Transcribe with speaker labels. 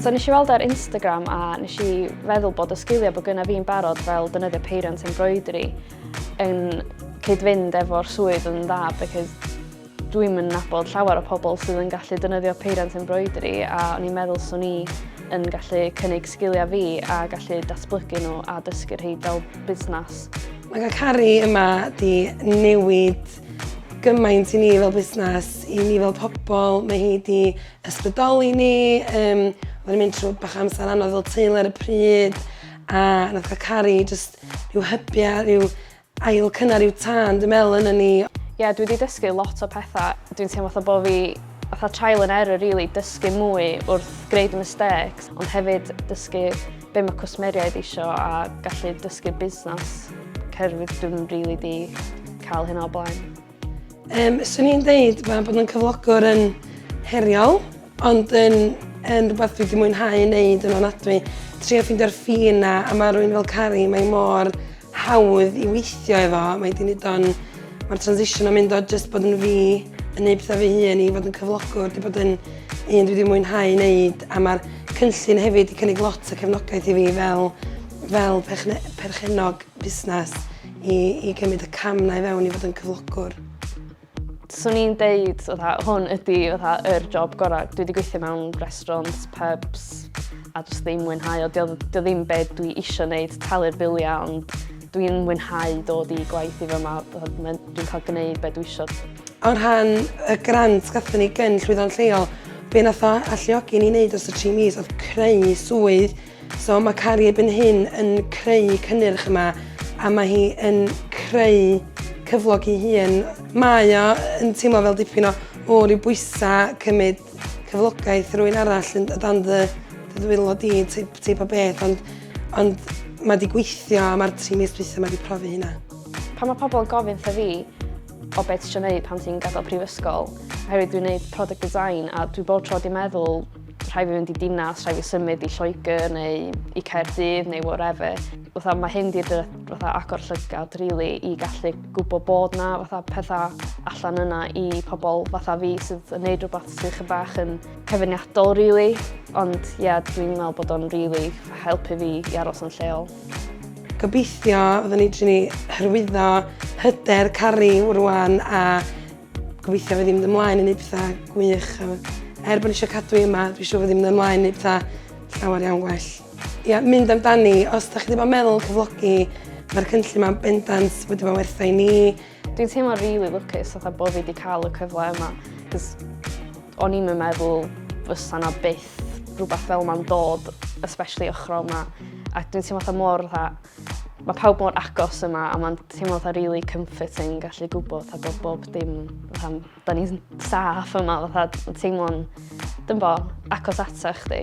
Speaker 1: So nes i weld ar Instagram a nes i feddwl bod y sgiliau bod gyda fi'n barod fel dynyddio peiriant embroidery yn cyd-fynd efo'r swydd yn dda because Dwi'm yn nabod llawer o pobl sydd yn gallu defnyddio peiriant embroidery a o'n i'n meddwl swn i yn gallu cynnig sgiliau fi a gallu datblygu nhw a dysgu rhai fel busnes. Mae cael Cari
Speaker 2: yma di newid gymaint i ni fel busnes, i ni fel pobl, mae hi di ysbrydoli ni, um, oedden ni'n mynd trwy bach amser anodd fel teulu ar y pryd, a nath cael Cari just rhyw hybiau, rhyw Ail cynnar yw tân dwi'n meddwl yna ni. Ie dwi 'di dysgu
Speaker 1: lot o petha. Dwi'n teimlo fatha bo' fi fatha trial and error rili dysgu mwy wrth gneud y mistakes ond hefyd dysgu be' ma' cwsmeriaid isio a gallu dysgu busnas cerdded dwi'm rili 'di ca'l hynna o blaen. Um,
Speaker 2: swn i'n dweud mae bod yn cyflogwr yn heriol, ond yn, yn rhywbeth dwi wedi mwynhau yn neud yn onadwy. Trio ffindio'r ffin na, a mae rhywun fel Cari, mae mor hawdd i weithio efo. Mae di nid o'n... Mae'r transition o'n mynd o just bod yn fi, yn neud pethau fi hun i fod yn cyflogwr, di bod yn un dwi wedi mwynhau neud, a mae'r cynllun hefyd wedi cynnig lot o cefnogaeth i fi fel, fel perchenog. busnes i i gymryd y cam 'na i fewn i fod yn cyflogwr.
Speaker 1: Swn i'n deud fatha hwn ydi fatha yr job gora'. Dwi 'di gweithio mewn restaurants, pubs a jyst ddim mwynhau o. 'Di o 'di o ddim be' dwi isio neud, talu'r bilia ond dwi'n mwynhau dod i gwaith i fy ma' fatha ma'n dwi'n cael gneud be' dwi isio. O rhan
Speaker 2: y grant gathon ni gyn llwyddo'n lleol be' nath o alluogi ni neud dros y tri mis odd creu swydd So mae Cari erbyn hyn yn creu cynnyrch yma a mae hi yn creu cyflog i hun. Mae o yn teimlo fel dipyn o, o ryw bwysa cymryd cyflogaeth rwy'n arall yn dan ddy, ddy ddwylo di, teip, teip o beth, ond, ond mae di gweithio a mae'r tri mis dwytha mae di profi hynna. Pan mae pobl yn
Speaker 1: gofyn wrtha fi o beth ti eisiau gwneud pan ti'n gadael prifysgol, oherwydd dwi'n gwneud product design a dwi bob tro wedi meddwl rhaid fi fynd i dinas, rhaid fi symud i Lloegr neu i Caerdydd neu whatever. Fatha, mae hyn di fatha agor llygad really, i gallu gwybod bod na fatha pethau allan yna i pobl fatha fi sydd yn neud rhywbeth sydd chyfach bach yn cyfyniadol really. Ond ie, yeah, dwi'n meddwl bod o'n really helpu fi i aros yn lleol. Gobeithio
Speaker 2: fyddwn ni dri ni hyrwyddo hyder caru rwan a Gobeithio fyddi mynd ymlaen i neud petha gwych a er bod ni isio cadw hi yma dwi siŵr fyddi mynd ymlaen i neud petha llawer iawn gwell. Ia, mynd amdani, os da chi ddim yn meddwl cyflogi mae'r cynllun ma'n bendant wedi bod wertha i ni. Dwi'n teimlo rili
Speaker 1: lwcus fatha bo' fi 'di ca'l y cyfle yma 'c'os o'n i'm yn meddwl fysa 'na byth rwbath fel 'ma'n dod especially ochra 'ma a dwi'n teimlo fatha mor fatha Mae pawb mor agos yma a mae'n teimlo fatha really comforting gallu gwybod fatha bod bob dim fatha, da ni'n saff yma fatha teimlo'n dymbo agos ata chdi.